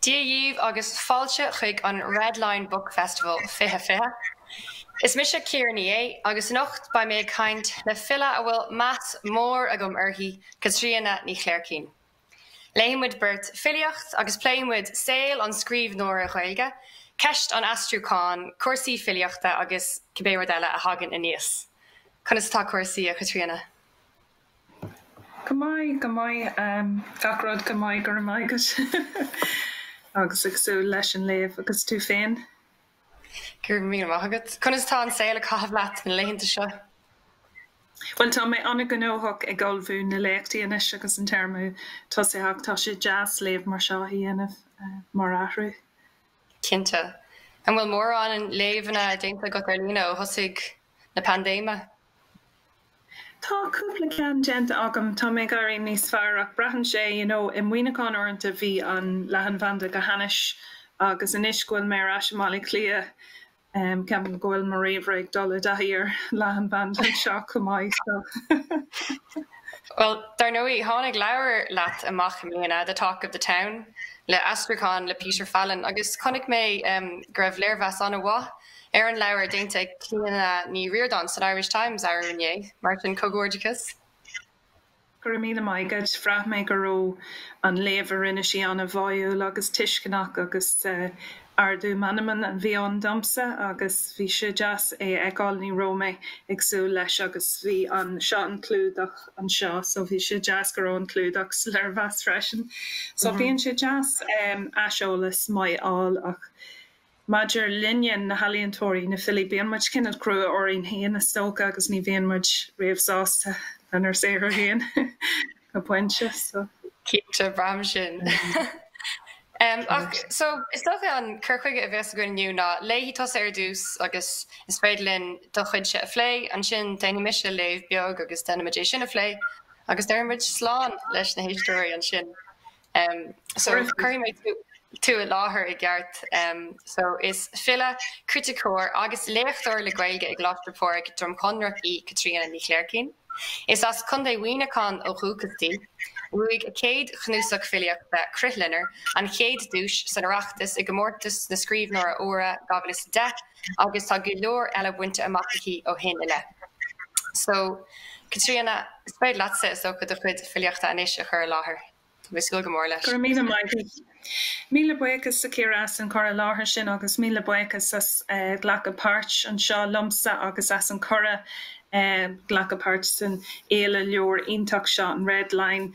Dia dhíbh agus fáilte chuig an Red Line Book Festival 2020. Is mise Ciara Ní É agus anocht beidh mé ag caint le file a bhfuil meas mór agam uirthi, Caitríona Ní Chléirchín. Léifimid beirt filíocht agus pléifimid saol an scríbhneora Ghaeilge, ceist an aistriúcháin, cúrsaí filíochta agus cibé rud eile a thagann aníos. Conas atá cúrsaí, a Chaitríona? Go maith, go maith. Gach rud go maith, go raibh maith agat. Agus ag súil leis an léamh. Agus tú féin? Go raibh míle maith agat. Conas atá an saol ag caitheamh leat na laethanta seo? Bhuel, tá mé an-ghnóthach ag ullmhú na léachtaí anois agus an téarma tosaithe ach tá sé deas léamh mar seo a dhéanamh mar athrú. Cinnte. An bhfuil mórán léamhanna déanta agat ar líne ó thosach na paindéime? Tá cúpla ceann déanta agam, tá mé ag éirí níos fearr ach braitheann sé, you know, i Muineachán uaireanta bhí an leathanbhanda go hainnis agus anois go bhfuil mé ar ais i mBaile Átha Cliath, em, ceapaim go bhfuil mo ríomhaire ag dul i dtaithí ar leathanbhanda anseo chomh maith so eh. Bhuel, dar ndóigh, tháinig leabhar leat amach i mbliana, The Talk of the Town, le haistriúcháin le Peter Fallon agus chonaic mé, em, go raibh léirmheas an-mhaith Ar an leabhar déanta ag Clíona Ní Ríordáin san Irish Times arú inné, mar sin, comhghairdeachas! Go raibh míle maith agat. Bhraith mé go raibh an léamh a rinne sí an-bháúil agus tuisceanach agus ardú meanman a bhí ann domsa agus bhí sé deas é a fheiceáil, ní raibh mé ag súil leis agus bhí an, seo an clúdach anseo so bhí sé deas go raibh an clúdach sa léirmheas freisin so bíonn sé deas aiseolas maith a fháil ach, Maidir linne, na healaíontóirí, na filí, bíonn muid cineál crua orainn féin is dócha agus ní bhíonn muid riamh sásta lenár saothar féin go pointe so. Cinnte, braithim sin. Ach so, is dócha an cur chuige a bheas againn inniu ná, léifidh tusa ar dtús agus is féidir linn do chuidse a phlé, ansin déanfaidh mise léamh beag agus déanfaimid é sin a phlé agus déarfaimid slán leis na héisteoirí ansin. Cuirfidh mé tú i láthair i gceart. So is file, criticeoir agus léachtóir le Gaeilge i gColáiste Phádraig, Drom Chonrach í Caitríona Ní Chléirchín. Is as Contae Mhuineacháin ó dhúchas di. Bhuaigh a céad chnuasach filíochta, Crithloinnir, an chéad duais san Oireachtas i gComórtas na Scríbhneoirí Úra 2010 agus tá go leor eile bainte amach aici ó shin i leith. So, Caitríona, is féidir leatsa, is dócha, do chuid filíochta anois a chur i láthair. Tá mé ag súil go mór leis. Go raibh míle maith agat. Míle buíochas a Chiara as an chur i láthair sin agus míle buíochas as glacadh páirt anseo liomsa agus as an cuireadh glacadh páirt san fhéile leabhar iontach seo, an Red Line.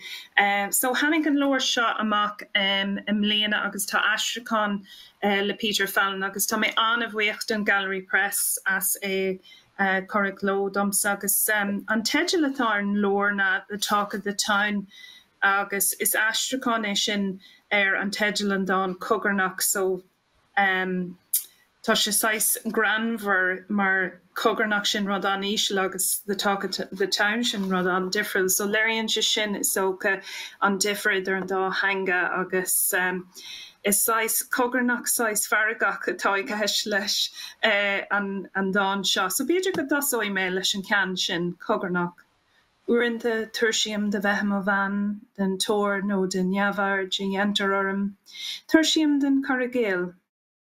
So, tháinig an leabhar seo amach i mbliana agus tá aistriúchán le Peter Fallon agus tá mé an-bhuíoch den Gallery Press as é a chur i gcló domsa agus an teideal atá ar an leabhar ná The Talk of the Town agus is aistriúchán é sin ar an teideal an dán cogarnach so tá sé saghas greannmhar mar cogarnach sin rud an-íseal agus the talk of the town sin rud an-difriúil so léiríonn sé sin, is dócha, an difear idir an dá theanga agus is saghas cogarnach, saghas feargach atá i gceist leis an dán seo. So b'fhéidir go dtosóidh mé leis an cheann sin, cogarnach. Uaireanta tuirsím de bheith i mo bhean den tóir nó den neamhaird a dhéantar orm. Tuirsím den chur i gcéill.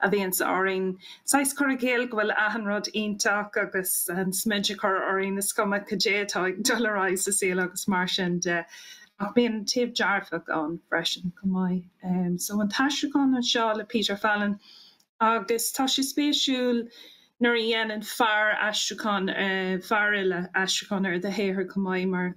a bhíonns orainn. Saghas cur i gcéill go bhfuil achan rud iontach agus an smideadh a chur orainn, is cuma cad é atá ag dul ar aghaidh sa saol agus mar sin de. Ach bíonn an taobh dearfach ann freisin chomh maith. So an t-aistriúchán anseo le Peter Fallon agus tá sé spéisiúil nuair a dhéanann fear aistriúchán, fearfhile aistriúchán ar do shaothar chomh maith mar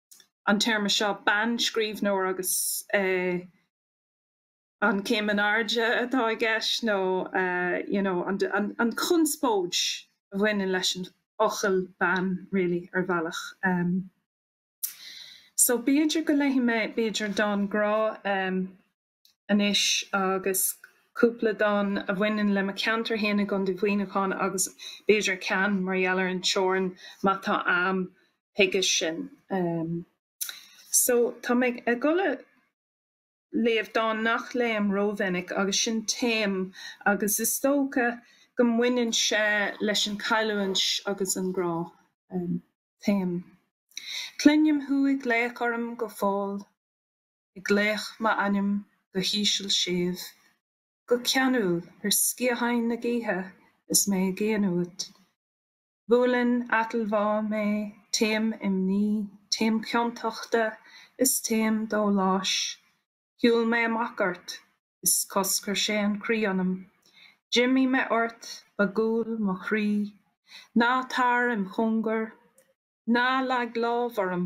an téarma seo, bean, scríbhneoir, agus an céim in airde atá i gceist nó you know an chonspóid a bhaineann leis an fhocal bean really ar bhealach em so b'fhéidir go léifidh mé b'fhéidir dán grá em anois agus cúpla dán a bhaineann le mo cheantar féin i gContae Mhuineacháin agus b'fhéidir ceann mar gheall ar an teorainn má tá am chuige sin. So tá mé ag dul a léamh dán nach léim rómhinic agus sin Taom agus is dócha go mbaineann sé leis an cailliúint agus an grá. Taom. Cluinim thú ag glaoch orm go fóill. ag glaoch m'ainm go híseal séimh, go ceanúil ar sciatháin na gaoithe is mé i gcéin uait. Buaileann atilmhá mé, taom imní, taom ciontachta is taom dóláis. Shiúil mé amach ort is choscair sé an croí ionam. D'imigh mé ort, ba ghual mo chroí. Ná tar im chóngar. Ná leag lámh orm.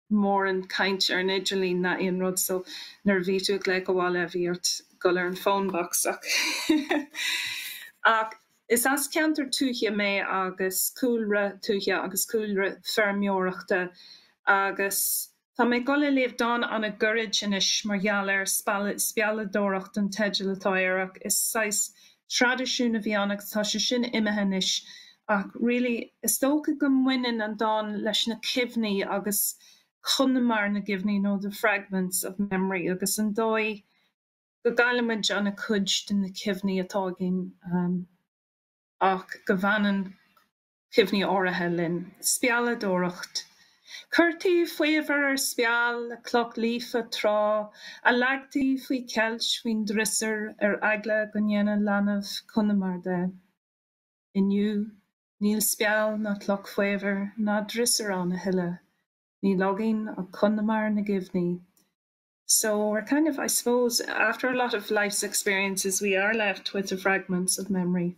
mórán caint ar an idirlíon ná aon rud so nuair a bhí tú ag glaoch abhaile bhí ort dul ar an phone box ach ach is as ceantar tuaithe mé agus cúlra tuaithe agus cúlra feirmeoireachta agus tá mé ag dul a léamh dán ana goirid anois mar gheall ar, Spealadh, Spealadóireacht an teideal atá air ach is saghas traidisiún a bhí ann agus tá sé sin imithe anois ach really is dócha go mbaineann an dán leis na cuimhní agus conamar na gcuimhní nó the fragments of memory agus an dóigh go gcaillimid ana chuid de na cuimhní atá againn ach go bhfanann cuimhní áirithe linn. Spealadóireacht. Chuirtí faobhar ar speal le cloch líofa tráth, a leagtaí faoi cheilt faoin drisiúr ar eagla go ndéanfadh leanbh conamar de. Inniu, níl speal ná cloch faobhair ná drisiúr ann a thuilleadh. Níl againn ach conamar na gcuimhní. So, we're kind of, I suppose, after a lot of life's experiences, we are left with the fragments of memory.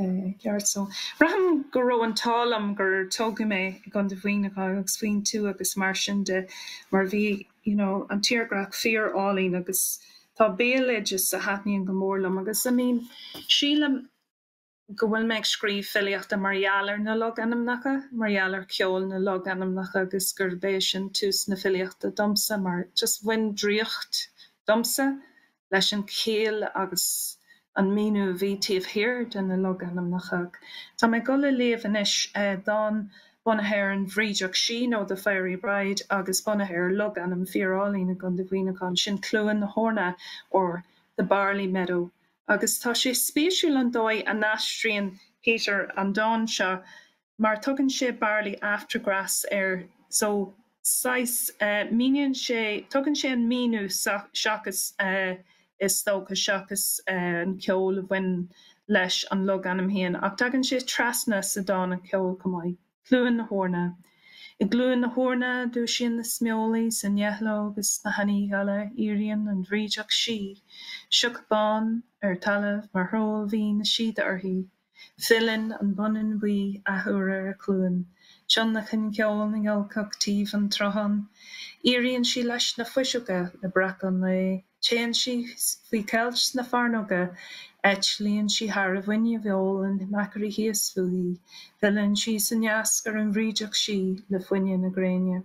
Ceart so. Braithim go raibh an t-ádh liom gur tógadh mé i gContae Mhuineacháin agus faoin tuath agus mar sin de mar bhí you know an tírdhreach fíor álainn agus tá béaloideas a thaitníonn go mór liom agus I mean sílim go bhfuil mé ag scríobh filíochta mar gheall ar na logainmneacha, mar gheall ar cheol na logainmneacha agus gurb é sin tús na filíochta domsa mar just bhain draíocht domsa leis an chéill agus an míniú a bhí taobh thiar de na logainmneacha. Tá mé ag dul a léamh anois dán bunaithe ar an bhrídeach sí, nó The Fairy Bride, agus bunaithe ar logainm fíorálainn i gContae Mhuineacháin, sin Cluain na hEorna or The Barley Meadow. Agus tá sé spéisiúil an dóigh a n-aistríonn Peter an dán seo mar tugann sé barley after grass air so saghas míníonn sé tugann sé an míniú seachas is dócha seachas an ceol a bhain leis an logainm féin ach tagann sé trasna sa dán an ceol chomh maith. Cluain na hEorna I gCluain na hEorna dúisíonn na smólaigh is na ngeithleog is na hEanaigh Gheala Éiríonn an bhrídeach sí, sioc bán ar talamh mar shról bhí na síoda uirthi, Filleann an Bonnán Buí athuair ar a chluain, tionlacan ceoil na ngiolcach taobh an tsrutháin, éiríonn sí leis na fuiseoga le breacadh an lae, téann sí faoi cheilt sna fearnóga, eitlíonn sí thar abhainn a ólann machairí thíos fúithi, filleann sí san eiscir an bhrídeach sí le fuineadh na gréine.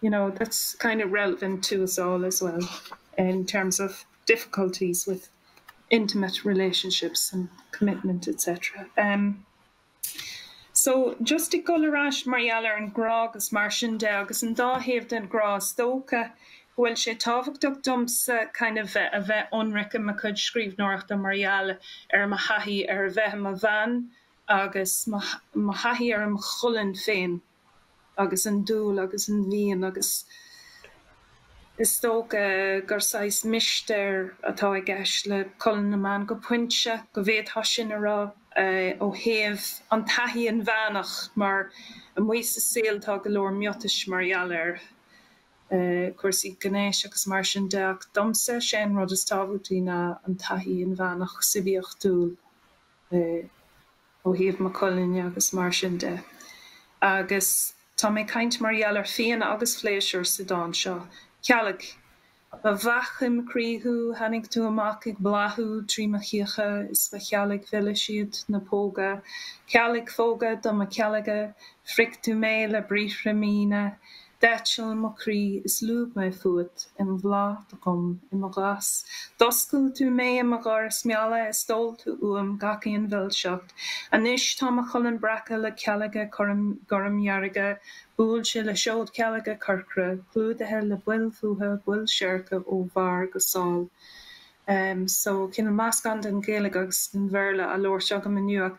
you know, that's kind of relevant to us all as well in terms of difficulties with intimate relationships and commitment etc. Umm so just ag dul ar ais mar gheall ar an grá agus mar sin de, agus an dá thaobh den ghrá is dócha go bhfuil sé tábhachtach domsa kind of a bheith ionraic i mo chuid scríbhneoireachta mar gheall ar mo thaithí ar a bheith i mo bhean agus mo thaithí ar an cholainn féin. agus an dúil agus an mhian agus is dócha gur saghas mistéir atá i gceist le colainn na mban go pointe, go bhféadfá sin a rá ó thaobh an taithí inmheánach mar amuigh sa saol tá go leor miotais mar gheall ar cúrsaí gnéis agus mar sin de ach domsa sé an rud is tábhachtaí ná an taithí inmheánach suibiachtúil i ó thaobh mo cholainne agus mar sin de. Agus tá mé ag caint mar gheall ar phian agus phléisiúr sa dán seo. Cealg. Ba bheach im chroí thú, tháinig tú amach ag bláthú trí mo chíocha is ba chealg mhilis iad na póga. Cealgphóga do mo chealgadh, phrioc tú mé le briathra míne, D'eitil mo chroí is lúb mé fúat i mo bhláth dod chomh i mo ghas. D'oscail tú mé i mo dhoras meala is d'ól tú uaim gach aon mhilseacht. Anois tá mo cholainn breactha le cealga gormdhearga, buailte le seodchealga corcra, clúdaithe le baill fuatha, baill seirce ó bharr go sáil. Ehm, so, cineál meascán den Ghaeilge agus den Bhéarla á labhairt agam inniu ach.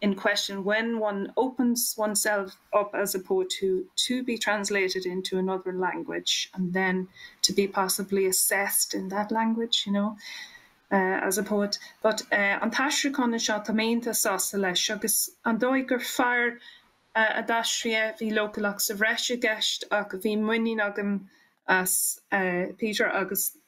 in question when one opens oneself up as a poet to be translated into another language and then to be possibly assessed in that language, you know, as a poet. But an t-aistriúchán anseo, tá mé iontach sásta leis agus an dóigh gur fear a d'aistrigh é, bhí leochaileacht sa bhreis i gceist ach bhí muinín agam as Peter agus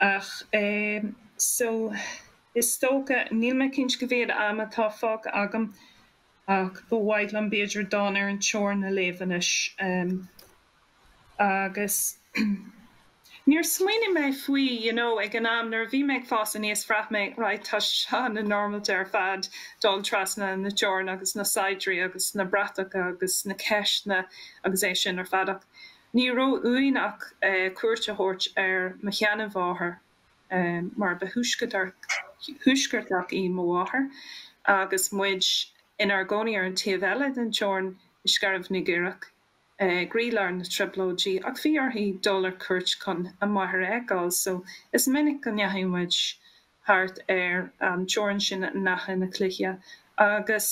Ach so, is dócha, níl mé cinnte cá mhéad am atá fágtha agam, ach ba mhaith liom b'fhéidir dán ar an teorainn a léamh anois. Agus níor smaoinigh mé faoi, you know, ag an am, nuair a bhí mé ag fás aníos, bhraith mé, right, tá sé seo an-normailte ar fad, dul trasna na teorann agus na saighdiúirí agus na bratacha agus na ceisteanna agus é sin ar fad ach. Ní raibh uainn ach cuairt a thabhairt ar mo sheanmháthair, mar ba thuaisceartach í mo mháthair, agus muid inár gcónaí ar an taobh eile den teorainn i Scairbh na gCaorach, i gcroílár na trioblóidí, ach bhí uirthi dul ar cuairt chun a máthair a fheiceáil, so is minic go ndeachaigh muid thart ar an teorainn sin in Achadh na Cloiche, agus.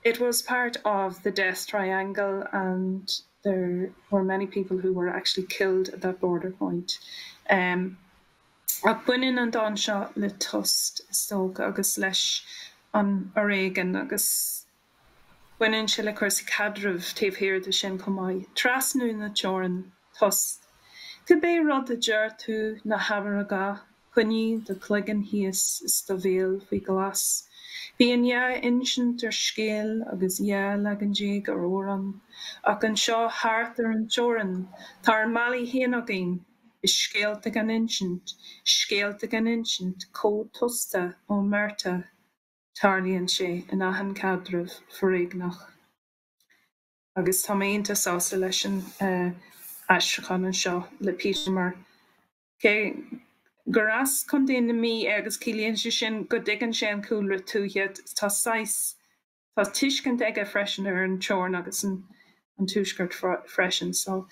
It was part of the death triangle and there were many people who were actually killed at that border point. Ach baineann an dán seo le tost, is dócha, agus leis an fhoréigean, agus baineann sé le cúrsaí caidrimh taobh thiar de sin chomh maith. Trasnú na teorann. tost. Cibé rud a deir tú ná habair a dhath, coinnigh do chloigeann thíos is do bhéal faoi ghlas. Bíonn dhá insint ar scéal agus dhá leagan déag ar amhrán, ach anseo thart ar an teorainn tá ár mbealaí féin againn, is scéalta gan insint, scéalta gan insint cód tosta, omerta. Tarlaíonn sé in achan caidreamh foréigneach. Agus tá mé iontach sásta leis an aistriúchán anseo le Peter mar cé gur as Contae na Mí é agus ciallaíonn sé sin go dtuigeann sé an cúlra tuaithe, tá saghas, tá tuiscint aige freisin ar an teorainn agus an tuaisceart freisin. So,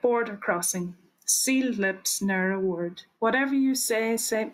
border crossing, sealed lips, ne'er a word. Whatever you say, say.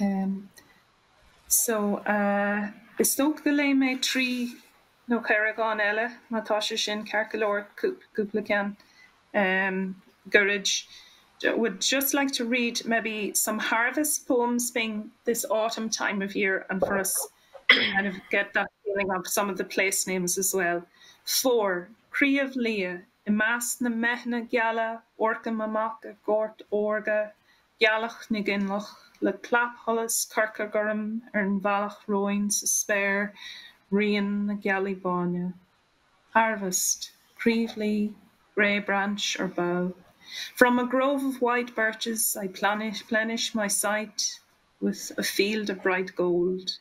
Um. So, uh, is dócha go léifidh mé trí nó ceithre dhán eile, má tá sé sin ceart go leor, cúp, cúpla ceann, um, goirid. I would just like to read maybe some harvest poems being this autumn time of year and for us kind of get that feeling of some of the place names as well. Fómhar, Craobh Liath, i measc na mbeitheanna geala, amharcaim amach ar ghort órga, Gealach na gCoinleach, le clapsholas corcairghorm ar an bhealach romhainn sa spéir, rian na gealaí báine. Harvest, Creevelea, grey branch or bough, from a grove of white birches I plenish my sight with a field of bright gold.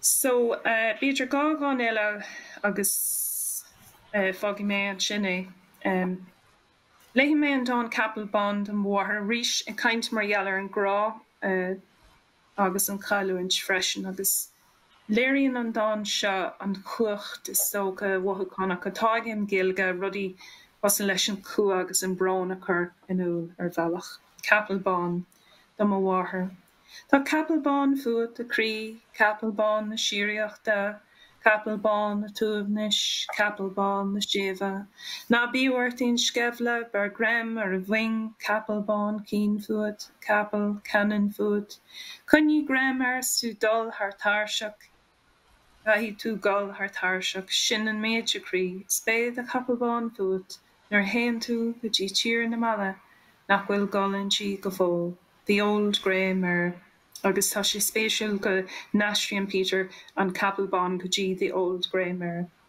So, b'fhéidir dhá dhán eile agus fágfaidh mé ansin é. Léifidh mé an dán Capall Bán do mo Mháthair arís, ag caint mar gheall ar an grá agus an chailliúint freisin, agus léiríonn an dán seo an chumhacht is dócha mhothúchánach atá ag an Ghaeilge rudaí cosúil leis an chumha agus an brón a chur in iúl ar bhealach. Capall Bán do mo Mháthair. Tá capall bán fút, a chroí, capall bán na síoraíochta, capall bán an tsuaimhnis, capall bán na séimhe. Ná bíodh ort aon sceimhle, beir greim ar a mhoing, capall bán caoin fút, capall ceannann fút. Coinnigh greim air is tú dul thar tairseach. Caithfidh tú dul thar tairseach, sin an méid, a chroí, is beidh do chapall bán fút nuair a théann tú go dtí tír na meala nach bhfuil dul inti go fóill, the old grey mare. Agus tá sé spéisiúil go n-aistríonn Peter an capall bán go dtí the old grey mare.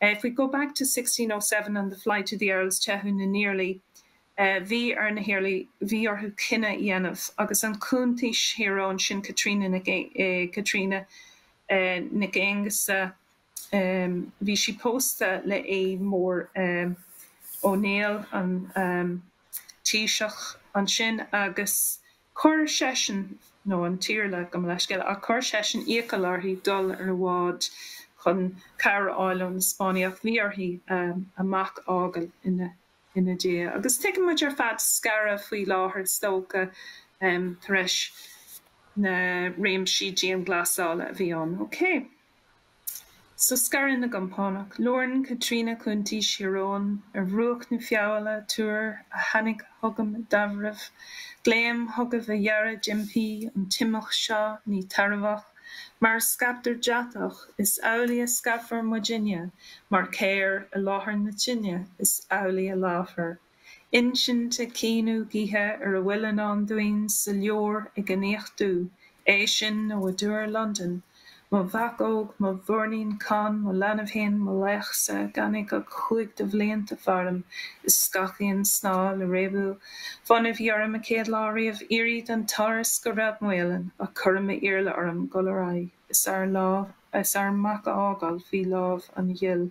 If we go back to sixteen oh seven and the flight of the Earls, Teitheadh na nIarlaí, Bhí ar na hIarlaí, bhí orthu cinneadh a dhéanamh agus an Chuntaois Thír Eoghain, sin Caitríona Caitríona Nic Aonghusa, bhí sí pósta le Aodh Mór Ó Néill, an Taoiseach ansin, agus. Chuir seisean, nó an tIarla, gabh mo leithscéal, ach chuir seisean iachall uirthi dul ar an bhád chun cabhair a fháil ó na Spáinnigh, ach bhí uirthi a mac a fhágail ina diaidh. Agus tuigeann muid ar fad scaradh faoi láthair is dócha tar eis na réimsí dianghlasála a bhí ann. Okay. So Scaradh na gCompánach, labhraíonn Caitríona Cuntaois Thír Eoghain ar bhruach na Feabhaile, Tuar a tháinig chugam i dtaibhreamh, glaoim chugaibh a fheara d'impí an t-imeacht seo ní tairbheach, mar a scaiptear deatach is amhlaidh a scaipfear muidinne, mar chéir i láthair na tine is amhlaidh a leáfar. Insint ag caoineadh gaoithe ar a bhfuil i ndán dúinn sa leabhar ag an fhiach dubh, é sin nó i dTúr Londan, mo mhac óg, mo mhuirnín Conn, mo leanbh féin, mo laoch-sa, gan é ach cúig de bhlianta faram is gach aon snáth le réabadh fonn a bhí orm an chéad lá riamh éirí den turas go Ráth Maoláin ach chuir m'Iarla orm dhul ar aghaidh is ár mac a fhágáil faoi lámh an Ghaill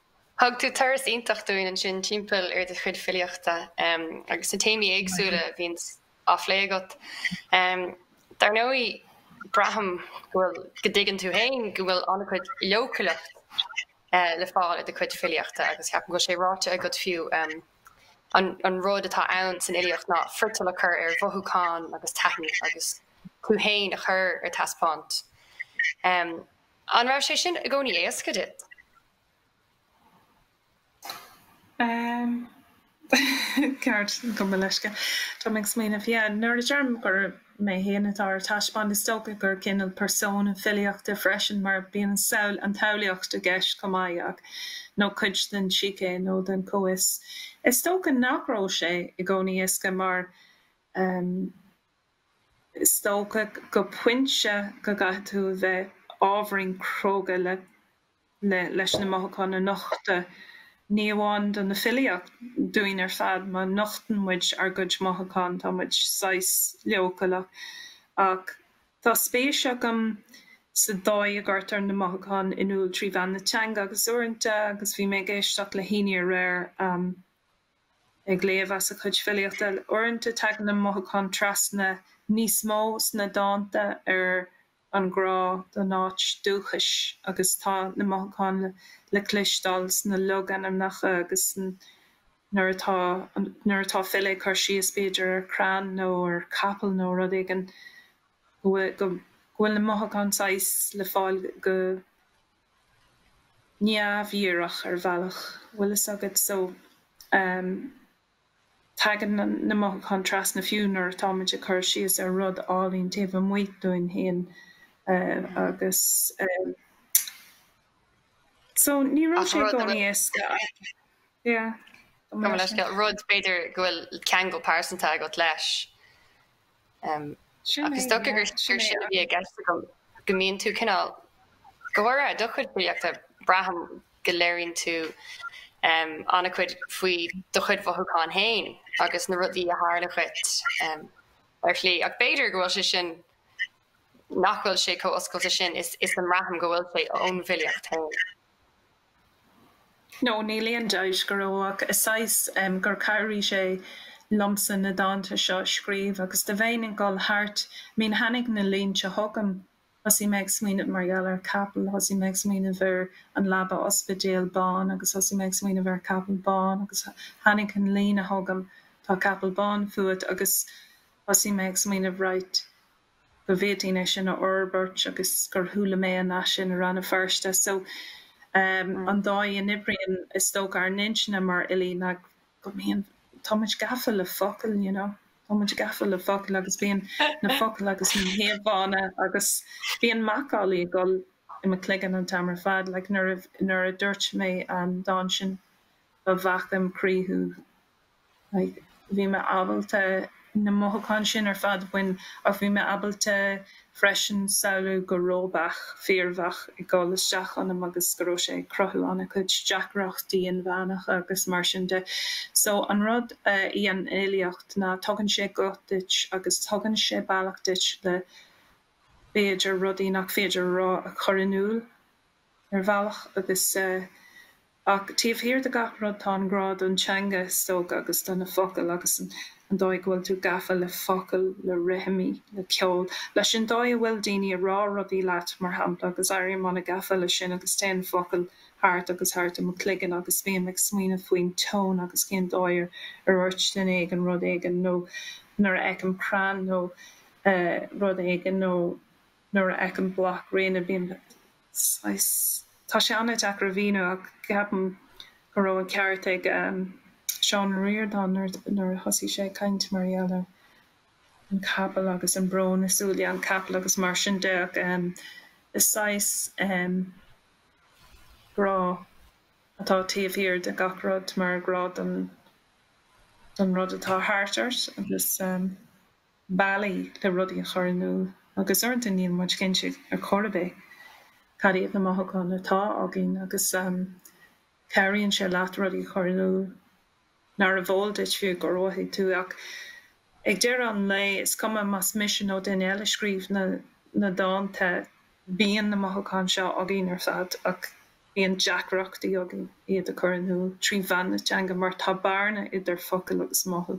Thug tú turas iontach dúinn ansin timpeall ar do chuid filíochta agus na téamaí éagsúla a bhíonn á phlé agat. Dar ndóigh, braithim go bhfuil, go dtuigeann tú féin go bhfuil an-chuid leochaileacht le fáil i do chuid filíochta agus ceapaim go bhfuil sé ráite agat fiú, an rud atá ann san fhilíocht ná friotal a chur ar mhothúcháin agus taithí agus tú féin a chur ar taispeáint. An raibh sé sin i gcónaí éasca duit? Ceist, gabh mo leithscéal. Tá mé ag smaoineamh, yeah, nuair a deirim gur mé féin atá ar taispeáint, is dócha gur cineál persona filíochta freisin, mar bíonn an tsamhlaíocht i gceist chomh maith, nó cuid den sícé nó den chomhfhios. Is dócha nach raibh sé i gcónaí éasca mar. Is dócha go pointe go gcaithfidh tú a bheith ábhairín cróga le leis na mothúcháin a nochtadh, ní amháin do na filí ach dúinn ar fad, má nochtann muid ár gcuid mothúchán tá muid saghas leochaileach. Ach tá spéis agam sa dóigh a gcuirtear na mothúcháin in iúl trí mheán na teanga agus uaireanta agus bhí mé ag éisteacht le hÁine aréir, Ag léamh as a cuid filíochta, uaireanta tagann na mothúcháin trasna níos mó sna dánta ar an ghrá don áit dúchais agus tá na mothúcháin le cloisteáil sna logainmneacha agus nuair atá nuair atá file ag cur síos b'fhéidir ar chrann nó ar chapall nó rud éigin go bhfuil na mothúcháin saghas le fáil go neamhdhíreach ar bhealach, bhfuil fhios agat, so ehm tagann na mothúcháin trasna fiú nuair atá muid ag cur síos ar rud álainn taobh amuigh dúinn féin eh agus ehm so ní raibh sé i gcónaí éasca ach yeah gabh mo leithscéal, rud b'fhéidir go bhfuil ceangal pearsanta agat leis. Ach is dócha gur sin a bhí i gceist agam, go mbíonn tú cineál, go háirithe do chuid filíochta, braithim go léiríonn tú an-chuid faoi do chuid mothúchán féin agus na rudaí a tharla dhuit ar shlí. Ach b'fhéidir go bhfuil sé sin, nach bhfuil sé chomh oscailte sin is a mbraithim go bhfuil sé, ón bhfilíocht féin. nó níl aon dabht go raibh ach is saghas gur chabhraigh sé liomsa na dánta seo a scríobh agus dá mbeinn ag dul thart bíonn tháinig na línte chugam thosaigh mé ag smaoineamh mar gheall ar capall thosaigh mé ag smaoineamh ar an leaba ospidéal bán agus thosaigh mé ag smaoineamh ar capall bán agus tháinig an líne chugam tá capall bán fút agus thosaigh mé ag smaoineamh right go bhféadfainn é sin a fhorbairt agus gur chuala mé an nath sin i Rann na Feirste so ehm an dóigh a n-oibríonn is dócha ár n-intinne mar fhilí ná go mbíonn tá muid gafa le focail you know tá muid gafa le focail agus bíonn na focail agus na híomhánna agus bíonn macallaí ag dul i mo chloigeann an t-am ar fad like nuair a nuair a dúirt mé an dán sin ba bheac im chroí thú like, bhí mé ábalta na mothúcháin sin ar fad a bhaint ach bhí mé ábalta freisin samhlú go raibh beach fíorbheag ag dul isteach ionam agus go raibh sé ag cruthú an-chuid deacrachtaí inmheánacha agus mar sin de so an rud faoin ealaíon ná tugann sé guth duit agus tugann sé bealach duit le b'fhéidir rudaí nach féidir a rá a chur in iúl. ar bhealach agus ach taobh thiar de gach rud tá an grá don teanga is dócha agus do na focail agus an dóigh go bhfuil tú gafa le focail, le rithimí, le ceol, leis an dóigh a bhfuil daoine a rá rudaí leat mar shampla agus éirím an-gafa leis sin agus téann na focail thart agus thart i mo chloigeann agus bím ag smaoineamh faoin tón agus cén dóigh ar dhúirt duine éigin rud éigin nó nuair a fheicim crann nó rud éigin nó Nuair a fheicim bloc fráinne bím saghas, tá sé an-deacair a mhíniú ach ceapaim go raibh an ceart ag Seán Ó Ríordáin nuair a thosaigh sé ag caint mar gheall ar an gcapall agus an brón i súile an chapaill agus mar sin de ach is saghas grá atá taobh thiar de gach rud mar grá don rud atá thart ort agus. bealaí le rudaí a chur in iúl agus uaireanta níl muid cinnte ar chor ar bith cad iad na mothúcháin atá againn agus cabhraíonn sé leat rudaí a chur in iúl nárbh eol duit fiú gur mhothaigh tú ach ag deireadh an lae is cuma más mise nó duine eile a scríobh na dánta bíonn na mothúcháin seo againn ar fad ach Bíonn deacrachtaí againn iad a chur in iúl trí mheán na teanga mar tá bearna idir focail agus mothú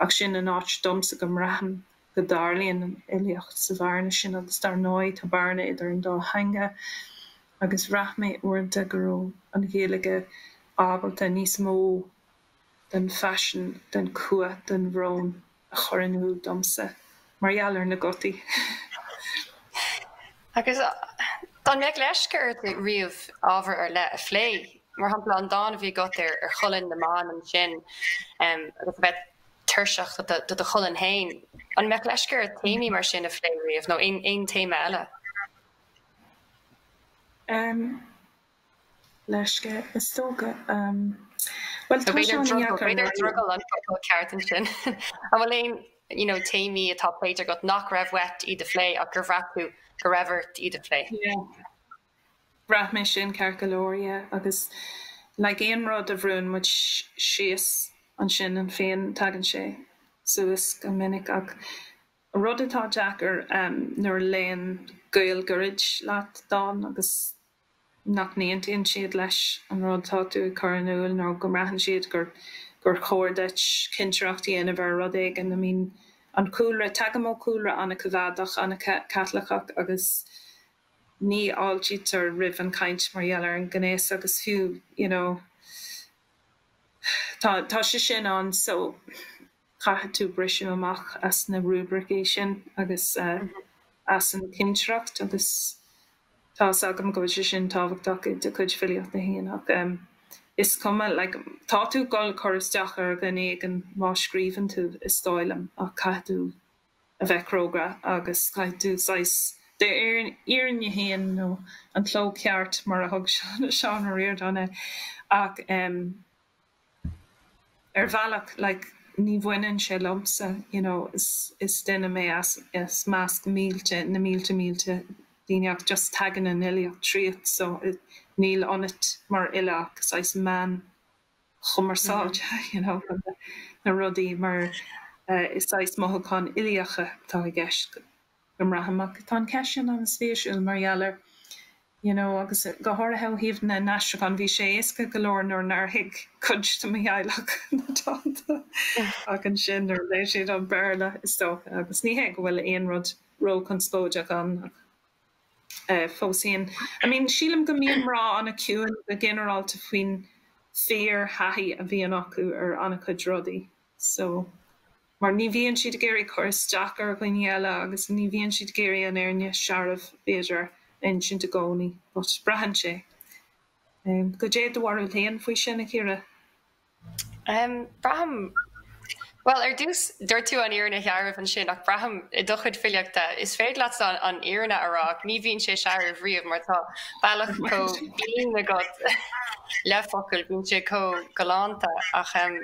ach sin an áit domsa go mbraithim go dtarlaíonn an fhilíocht sa bhearna sin agus dar ndóigh tá bearna idir an dá theanga agus bhraith mé uaireanta go raibh an Ghaeilge ábalta níos mó den phaisean, den chumha, den bhrón. a chur in iúl domsa mar gheall ar na gutaí. Agus dá mbeadh leisce ort riamh ábhar ar leith a phlé, mar shampla an dán a bhí agat ar cholainn na mban ansin, agus a bheith tuirseach de do cholainn féin, an mbeadh leisce ort téamaí mar sin a phlé riamh, nó aon téama eile? leisce, is dócha. Bhuel, tá sé an-deacair. B'fhéidir gur drogall an focal ceart ansin. An bhfuil aon you know téamaí atá pléite agat nach raibh uait iad a phlé ach gur bhraith tú go raibh ort iad a phlé? Yeah. Bhraith mé sin ceart go leor, yeah. Agus like aon rud a bhrúnn muid síos ansin ionainn féin, tagann sé suas go minic. Ach rud atá deacair nuair a léann gaol gairid leat dán agus. nach n-aontaíonn siad leis an rud atá tú ag cur in iúl nó go mbraitheann siad gur chóir duit cinsireacht a dhéanamh ar rud éigin. I mean, an cúlra, tagaim ó chúlra an-choimeádach, an-Chaitliceach agus ní fháiltítear roimh an chaint mar gheall ar an ngnéas agus fiú, you know, tá, tá sé sin ann. So. caithfidh tú briseadh amach as na rúibricí sin agus as an chinsireacht agus tá fhios agam go bhfuil sé sin tábhachtach i do chuid filíochta féin ach is cuma, like, tá tú ag dul ag cur isteach ar dhuine éigin má scríobhann tú, is dóigh liom, ach caithfidh tú a bheith cróga agus caithfidh tú saghas d'fhírinne féin nó an cló ceart mar a thug Seán Ó Ríordáin air ach em. ar bhealach like ní bhaineann sé liomsa you know is is duine mé as as measc mílte na mílte mílte daoine ach just tagann an fhilíocht tríot so níl ionat mar fhile ach saghas meán cumarsáide you know na rudaí mar is saghas mothúcháin uilíocha atá i gceist go mbraithim iad. Tá an cheist sin an-spéisiúil mar gheall ar you know agus go háirithe ó thaobh na n-aistriúchán, bhí sé éasca go leor nuair nár thuig cuid de mo theaghlach na dánta ach ansin nuair a léigh siad an Béarla is dócha agus ní hé go bhfuil aon rud ró-chonspóideach ann ach eh fós féin I mean sílim go mbíonn mná an-chiúin go ginearálta faoin fíor-thaithí a bhíonn acu ar an-chuid rudaí. so mar ní bhíonn siad ag iarraidh cur isteach ar dhaoine eile agus ní bhíonn siad ag iarraidh an fhírinne shearbh b'fhéidir a insint i gcónaí but braithimse em goidé do bharúil féin faoi sin a Chiara? Em braithim bhuel ar dtús dúirt tú an fhírinne shearbh ansin ach braithim i do chuid filíochta is féidir leat an an fhírinne a rá ach ní bhíonn sé searbh riamh mar tá bealach chomh binn agat le focail bíonn sé chomh galánta ach em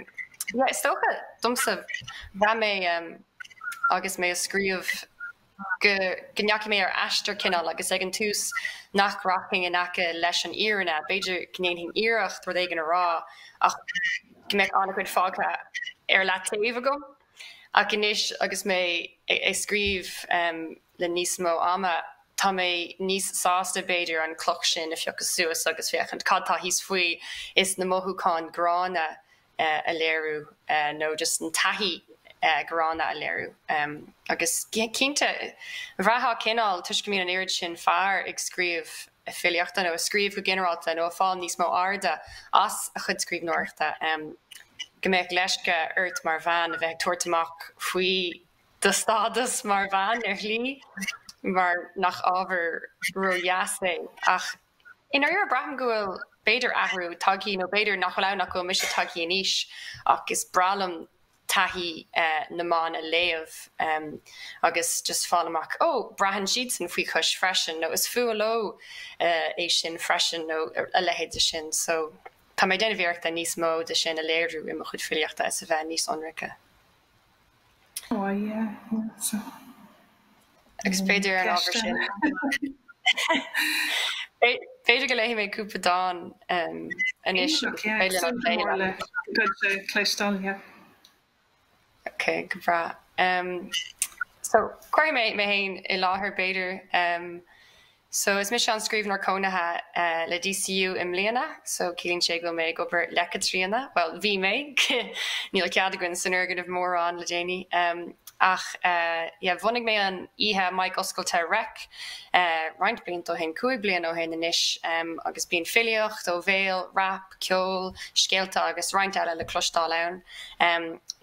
Yeah, is dócha domsa braithim um, agus mé ag scríobh go, go ndeachaigh mé ar aistear cineál agus ag an tús nach rachainn in aice leis an fhírinne, b'fhéidir go ndéanfainn iarracht rud éigin a rá ach go mbeadh an-chuid fágtha ar leataobh agam. Ach anois agus mé ag scríobh um, le níos mó ama, tá mé níos sásta b'fhéidir an chloch sin a phiocadh suas agus féachaint cad tá thíos faoi is na mothúcháin gránna a léiriú nó just an taithí ghránna a léiriú agus cinnte bhraithfeá cineál toisc go mbíonn an oiread sin fear ag scríobh filíochta nó ag scríobh go ginearálta nó ag fáil níos mó airde as a chuid scríbhneoireachta go mbeadh leisce ort mar bhean a bheith ag tabhairt amach faoi do stádas mar bhean ar shlí mar nach ábhar ródheas é. Ach i ndáiríre braithim go bhfuil, b'fhéidir, athrú tagtha, nó b'fhéidir nach bhfuil ann ach go bhfuil mise tagtha in aois, ach is breá liom taithí na mban a léamh agus just fáil amach, ó, braitheann siadsan faoi chois freisin, nó is fuath leo é sin freisin, nó a leithéid de sin. So, tá mé ag déanamh iarrachta níos mó de sin a léiriú i mo chuid filíochta is a bheith níos ionraice. Agus b'fhéidir ar an ábhar sin, b'fhéidir go léifidh mé cúpla dán anois agus beidh linn an plé le cloisteáil. Ok, go breá. So, cuirfidh mé mé féin i láthair b'fhéidir. So, is mise an Scríbhneoir Cónaithe le DCU i mbliana, so ciallaíonn sé go bhfuil mé ag obair le Caitríona, bhuel, bhí mé, níl cead againn san fhoirgneamh mórán le déanaí, ach yeah, bhunaigh mé an oíche Mic Oscailte Reic roinnt blianta ó shin, cúig bliana ó shin anois, agus bíonn filíocht ó bhéal, rap, ceol, scéalta agus roinnt eile le cloisteáil ann.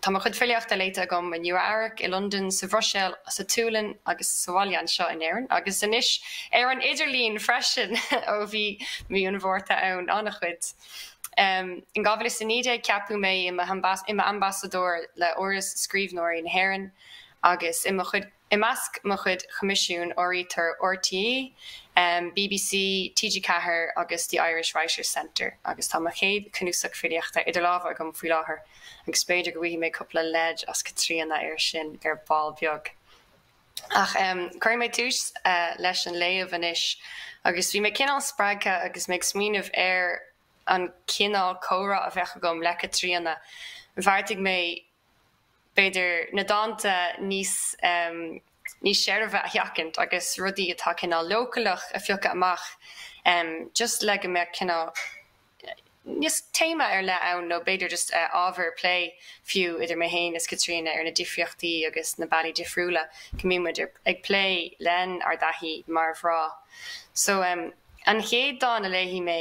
Tá mo chuid filíochta léite agam i Nua Eabhrac, i Londain, sa Bhruiséil, sa tSualainn agus sa bhaile anseo in Éirinn, agus anois ar an idirlíon freisin ó bhí mí an Mhárta ann. An-chuid. In 2019 ceapadh mé i m'ambasadóir le hÁras Scríbhneoirí na hÉireann agus i mo chuid. I measc mo chuid coimisiún áirítear RTÉ, BBC, TG4 agus The Irish Writers Centre agus tá mo chéad chnuasach filíochta idir lámha agam faoi láthair agus b'fhéidir go bhfaighidh mé cúpla leid as Caitríona air sin ar ball beag. Ach cuirfidh mé tús leis an léamh anois agus bhí mé cineál spreagtha agus mé ag smaoineamh ar an chineál comhrá a bheadh agam le Caitríona, bheartaigh mé b'fhéidir na dánta níos níos seirbhe a sheachaint agus rudaí atá cineál leochaileach a phiocadh amach just le go mbeadh cineál níos téama ar leith ann nó b'fhéidir just ábhar plé fiú idir mé féin is Caitríona ar na difríochtaí agus na bealaí difriúla go mbíonn muid ag plé lenár dtaithí mar mhná so an chéad dán a léifidh mé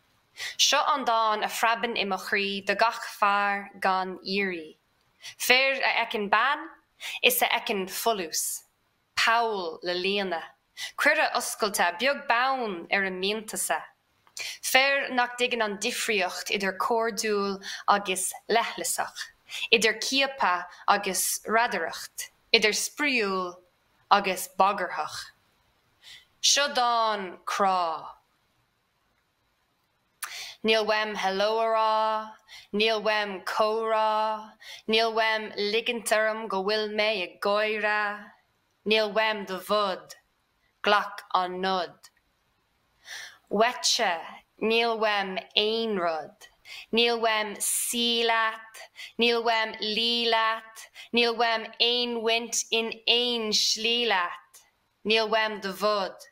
Seo an dán a phreabann i mo chroí do gach fear gan iarraidh, fir a fheiceann bean is a fheiceann folús, poll le líonadh, cuireadh oscailte beag beann ar a mianta-sa, fir nach dtuigeann an difríocht idir cairdiúil agus leithleasach, idir ciapadh agus radaireacht, idir spraíúil agus bagarthach. Seo dán crá. Níl uaim hello a rá, níl uaim comhrá, níl uaim ligint orm go bhfuil mé ag gáire, níl uaim do bhod, glac an nod. Uaitse, níl uaim aon rud, níl uaim suí leat, níl uaim luí leat, níl uaim aon bhaint in aon slí leat, níl uaim do bhod.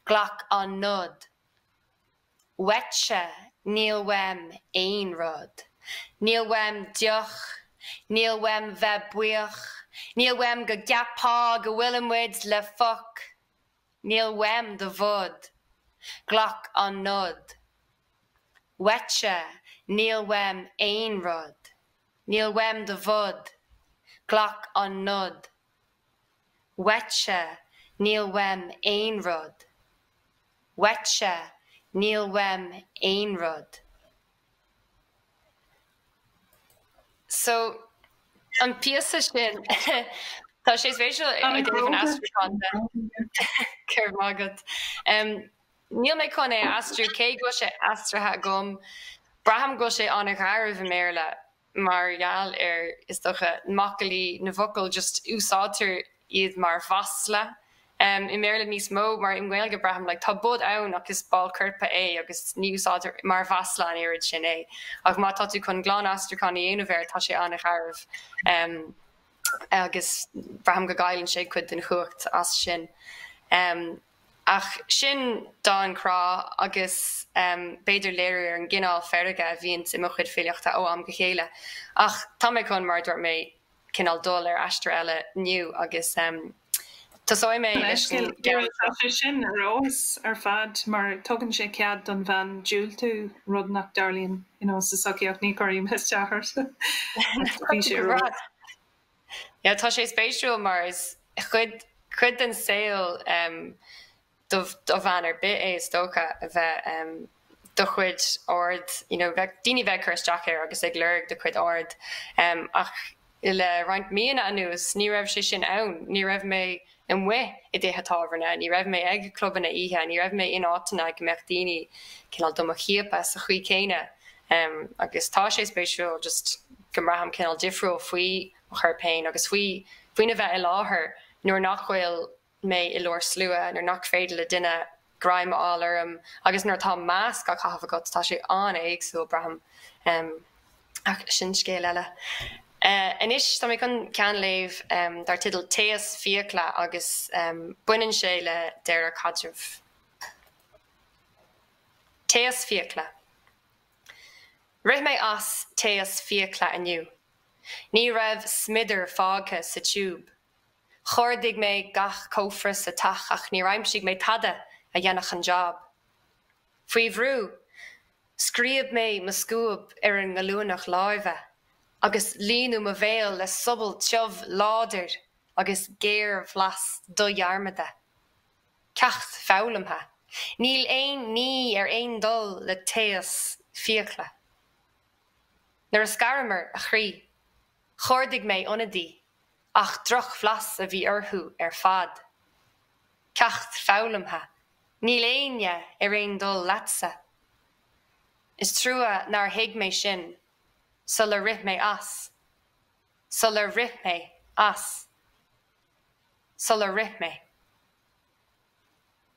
Glac an nod. Uaitse, níl uaim aon rud. Níl uaim deoch. Níl uaim bheith buíoch. Níl uaim go gceapfá go bhfuilimid le foc. Níl uaim do bhod. Glac an nod. Uaitse, níl uaim aon rud. Níl uaim do bhod. Glac an nod. Uaitse níl uaim aon rud. Uaitse níl uaim aon rud. So, an píosa sin, tá sé spéisiúil i dtaobh an aistriúcháin de. Go raibh maith agat. Níl mé chun é a aistriú, cé go bhfuil sé aistrithe agam. Braithim go bhfuil sé an-gharbh i mBéarla. mar gheall ar, is dócha, macallaí na bhfocal, just úsáidtear iad mar mhasla i mBéarla níos mó, mar i nGaeilge, braithim, like, tá bod ann ach is ball coirp é agus ní úsáidtear é mar mhasla an oiread sin é, ach má tá tú chun glan-aistriúchán a dhéanamh air tá sé an-gharbh agus braithim go gcailleann sé cuid den chumhacht as sin. Ach sin dán crá agus b'fhéidir léiriú ar an gcineál feirge a bhíonns i mo chuid filíochta ó am go chéile. Ach tá mé chun, mar a dúirt mé, cineál dul ar aistear eile inniu agus tosóidh mé leis an gceann seo. Tá sé sin ar fheabhas ar fad mar tugann sé cead don bhean diúltú, rud nach dtarlaíonn sa tsochaíocht, ní chuirfidh mé isteach ort. Bhí sé ar fheabhas. Yeah, tá sé spéisiúil mar is cuid, cuid den saol em do, do bhean ar bith é is dócha a bheith em do chuid aird you know bheith, daoine bheith ag cur isteach ar agus ag lorg do chuid aird em ach le roinnt míonna anuas ní raibh sé sin ann, ní raibh mé amuigh i dtithe tábhairne, ní raibh mé ag clubanna oíche, ní raibh mé in áiteanna go mbeadh daoine cineál do mo chiapadh sa chaoi céanna. Agus tá sé spéisiúil just go mbraithim cineál difriúil faoi mo chorp féin agus faoi faoina bheith i láthair nuair nach bhfuil mé i lár slua, nuair nach féidir le duine greim a fháil orm agus nuair atá masc á chaitheamh agat tá sé an-éagsúil, braithim, ach sin scéal eile. Anois tá mé chun ceann a léamh dar teideal Taos Fiacla agus baineann sé le deireadh caidrimh. Taos Fiacla. Rith mé as taos fiacla inniu. Ní raibh smiodar fágtha sa tiúb. Chuardaigh mé gach cófra sa teach ach níor aimsigh mé tada a dhéanfadh an jab. Faoi bhrú, scríob mé mo scuab ar an ngallúnach láimhe agus líonadh mo bhéal le sobal tiubh láidir agus géarbhlas dodhearmadta. Ceacht foghlamtha. Níl aon ní ar aon dul le taos fiacla. Nuair a scaramar, a chroí. Chuardaigh mé ionadaí, ach drochbhlas a bhí orthu ar fad. Ceacht foghlamtha, níl éinne ar aon dul leatsa. Is trua nár thuig mé sin sular rith mé as, sular rith mé as, sular rith mé.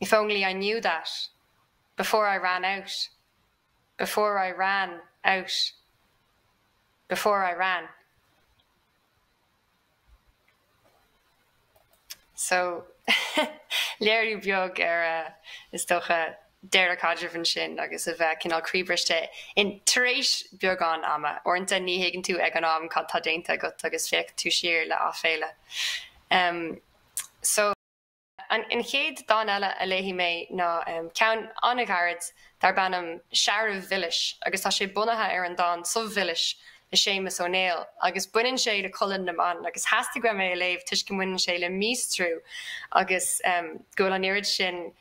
If only I knew that before I ran out before I ran out before I ran So léiriú beag ar, is dócha, deireadh caidrimh ansin agus a bheith cineál croíbhriste in tar éis beagán ama. Uaireanta ní thuigeann tú ag an am cad tá déanta agat agus féachann tú siar le aiféala. So. An chéad dán eile a léifidh mé ná ceann an-ghairid darb ainm 'Searbh Mhilis' agus tá sé bunaithe ar an dán 'Subh Mhilis' le Séamus Ó Néill agus baineann sé le colainn na mban agus theastaigh uaim é a léamh toisc go mbaineann sé le míostrú agus go bhfuil an oiread sin,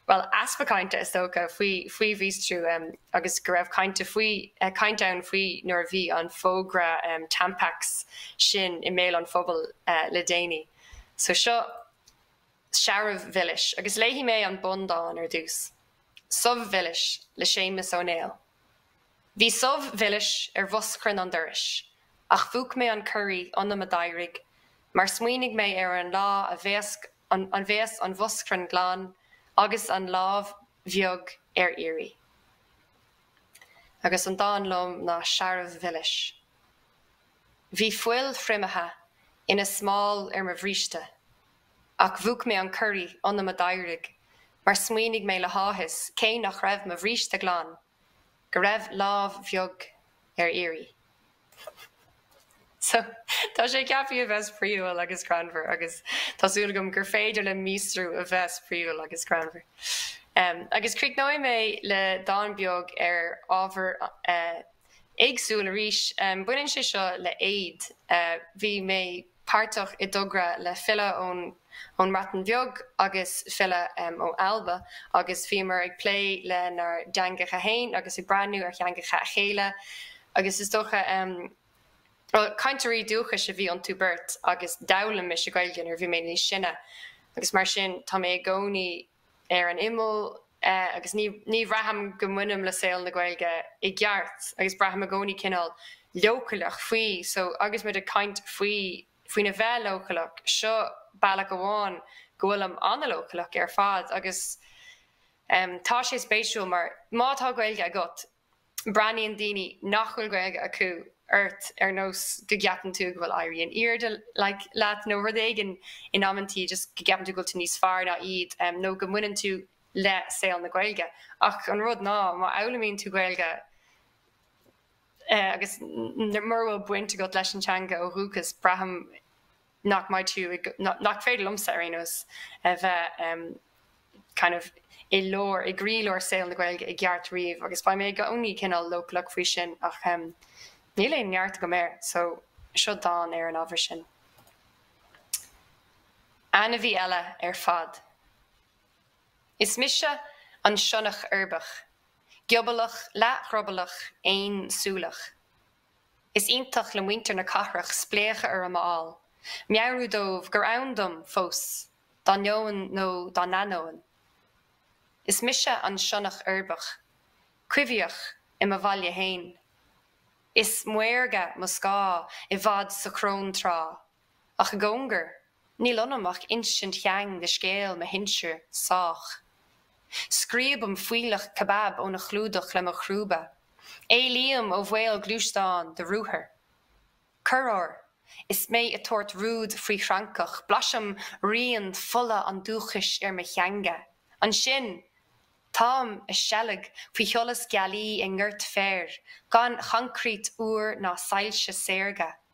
bhuel, easpa cainte, is dócha, faoi mhíostrú agus go raibh caint faoi, caint ann faoi nuair a bhí an fógra Tampax sin i mbéal an phobail le déanaí. So seo. searbh mhilis, agus léifidh mé an bundán ar dtús. Subh Mhilis le Séamus Ó Néill Bhí subh mhilis ar bhoschrann an dorais, ach mhúch mé an corraí ionam a d'éirigh mar smaoinigh mé ar an lá a bheas an bhoschrann glan agus an lámh bheag ar iarraidh. Agus an dán liom ná Searbh Mhilis. Bhí fuil thriomaithe ina smál ar mo bhríste, ach mhúch mé an corraí ionam a d'éirigh mar smaoinigh mé le háthas, cé nach raibh mo bhríste glan, go raibh lámh bheag ar iarraidh. So, tá sé ceapthaí a bheith spraíúil agus greannmhar agus tá súil agam gur féidir le míostrú a bheith spraíúil agus greannmhar. Agus críochnóidh mé le dán beag ar ábhar an- éagsúil arís. Baineann sé seo le éad. Bhí mé páirteach i dtogra le file ón mBreatain Bheag agus file ó Alba agus bhíomar ag plé lenár dteangacha fhéin agus ag breathnú ar theangacha a chéile agus is dócha, bhuel cainteoirí dúchais a bhí iontu beirt agus d'fhoghlaim mise Gaeilge nuair a bhí mé níos sine agus mar sin tá mé i gcónaí ar an imeall agus ní ní bhraithim go mbainim le saol na Gaeilge i gceart agus braithim i gcónaí cineál leochaileach faoi so agus muid ag caint faoi faoina bheith leochaileach seo bealach amháin go bhfuilim an-leochaileach ar fad agus em tá sé spéisiúil mar má tá Gaeilge agat breathnaíonn daoine nach bhfuil Gaeilge acu ort ar nós go gceapann tú go bhfuil éirí in airde leat nó rud éigin in amantaí just go gceapann tú go bhfuil tú níos fearr ná iad nó go mbaineann tú le saol na Gaeilge ach an rud ná má fhoghlaimíonn tú Gaeilge agus mura bhfuil baint agat leis an teanga ó dhúchas braithim nach mbeidh tú i nach féidir liomsa, ar aon nós, a bheith kind of i lár, i gcroílár saol na Gaeilge i gceart riamh agus beidh mé i gcónaí cineál leochaileach faoi sin ach níl aon neart agam air so seo dán ar an ábhar sin. Ainmhí eile ar fad. Is mise an sionnach uirbeach, giobalach leathdhrioballach aonsúileach. Is iontach le muintir na cathrach spléachadh orm a fháil, meabhrú dóibh gur ann dom fós, dá ndeoin nó dá n-ainneoin. Is mise an sionnach uirbeach, coimhthíoch i mo bhaile féin. Is maorga mo scáth i bhfad sa chróntráth. Ach i gcóngar, níl ionam ach insint sheang de scéal mo shinsir, sách. Scríobaim fuílleach kebab óna chlúdach le mo chrúba. Éalaím ó bhaol gluaisteán de ruathar. Corruair, is mé ag tabhairt rúid faoi fhrancach, blaisim rian fola an dúchais ar mo theanga. Ansin, táim ag seilg faoi sholas gealaí i ngort féir, gan choincréit fhuar ná soilse saorga.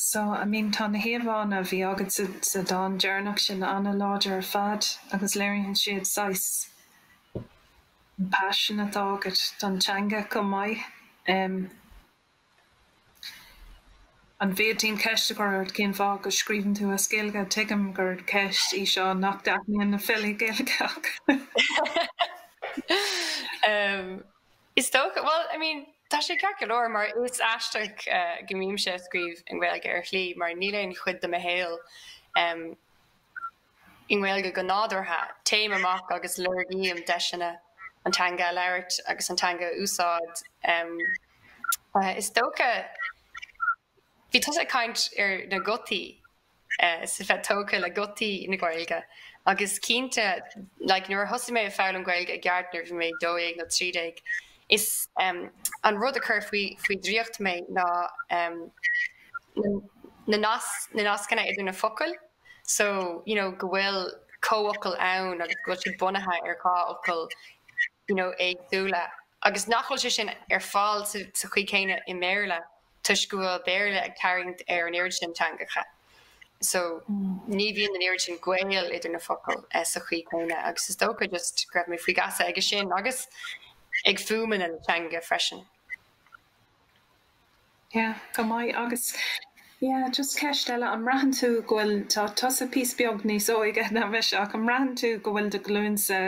So, I mean, tá na híomhánna a bhí agat sa dán deireanach sin an-láidir ar fad agus léiríonn siad saghas an passion atá agat don teanga chomh maith. An bhféadfainn ceist a chur ort cén fáth go scríobhann tú as Gaeilge? Tuigim gur ceist í seo nach dtaitníonn le filí Gaeilge ach. Is dócha, bhuel, I mean, tá sé ceart go leor, mar is aisteach go mbímse ag scríobh i nGaeilge ar shlí, mar níl aon chuid de mo shaol i nGaeilge go nádúrtha. Téim amach agus lorgaím deiseanna an teanga a labhairt agus an teanga a úsáid. Is dócha. Bhí tusa ag caint ar na gutaí is a bheith tógtha le gutaí na Gaeilge agus cinnte like nuair a thosaigh mé ag foghlaim Gaeilge i gceart nuair a bhí mé dó dhéag nó trí déag is ehm an rud a chuir faoi faoi draíocht mé ná ehm na nas na nascanna idir na focail so you know go bhfuil comhfhocail ann agus go bhfuil siad bunaithe ar dhá fhocal you know éagsúla agus nach bhfuil sé sin ar fáil sa sa chaoi chéanna i mBéarla toisc go bhfuil Béarla ag tarraingt ar an oiread sin teangacha so ní bhíonn an oiread sin gaol idir na focail sa chaoi chéanna agus is dócha just go raibh mé faoi gheasa aige sin agus ag fuaimeanna na teanga freisin. Yeah, an-mhaith agus yeah, just ceist eile an mbraitheann tú go bhfuil tá tusa píos beag níos óige ná mise ach an mbraitheann tú go bhfuil do ghlúinse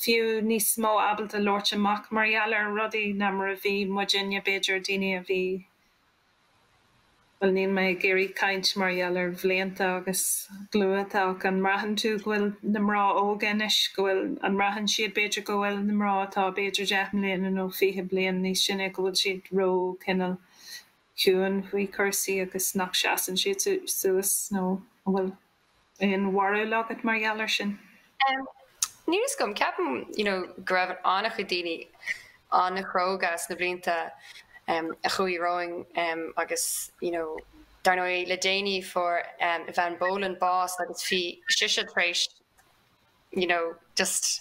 fiú níos mó ábalta labhairt amach mar gheall ar rudaí ná mar a bhí muidinne, b'fhéidir, daoine a bhí, bhuel, níl mé ag iarraidh caint mar gheall ar bhlianta agus glúinte ach an mbraitheann tú go bhfuil na mná óga anois, go bhfuil, an mbraitheann siad b'fhéidir go bhfuil na mná atá b'fhéidir deich mbliana nó fiche bliain níos sine go bhfuil siad ró cineál ciúin faoi chúrsaí agus nach seasann siad suas nó an bhfuil? Aon bharúil agat mar gheall ar sin? Em, níl 'fhios agam, ceapaim, you know, go raibh an-chuid daoine an-chróga sna blianta, em, a chuaigh romhainn, em, agus, you know, dar ndóigh le déanaí fuair, em, Eavan Boland bás agus bhí sise tar éis, you know, just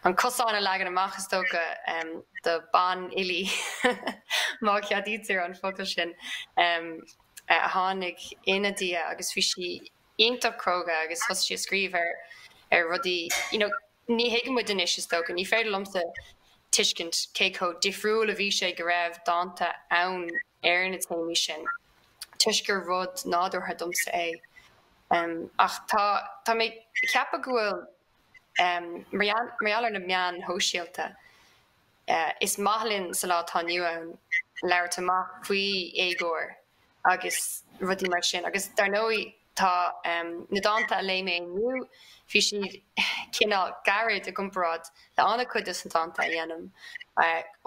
an cosán a leagan amach, is dócha, em, do bhanfhilí, má cheadaítear an focal sin, em, a tháinig ina diaidh agus bhí sí iontach cróga agus thosaigh sí ag scríobh ar, ar rudaí, you know, ní thuigeann muid anois, is dócha, ní féidir liomsa tuiscint cé chomh difriúil a bhí sé go raibh dánta ann ar na téamaí sin toisc gur rud nádúrtha domsa é. Ach tá tá mé ag ceapadh go bhfuil mar gheall ar na meáin shóisialta, is maith linn sa lá atá inniu ann labhairt amach faoi éagóir agus rudaí mar sin agus dar ndóigh tá na dánta a léigh mé inniu, bhí siad cineál gairid i gcomparáid le an-chuid dos na dánta a dhéanaim.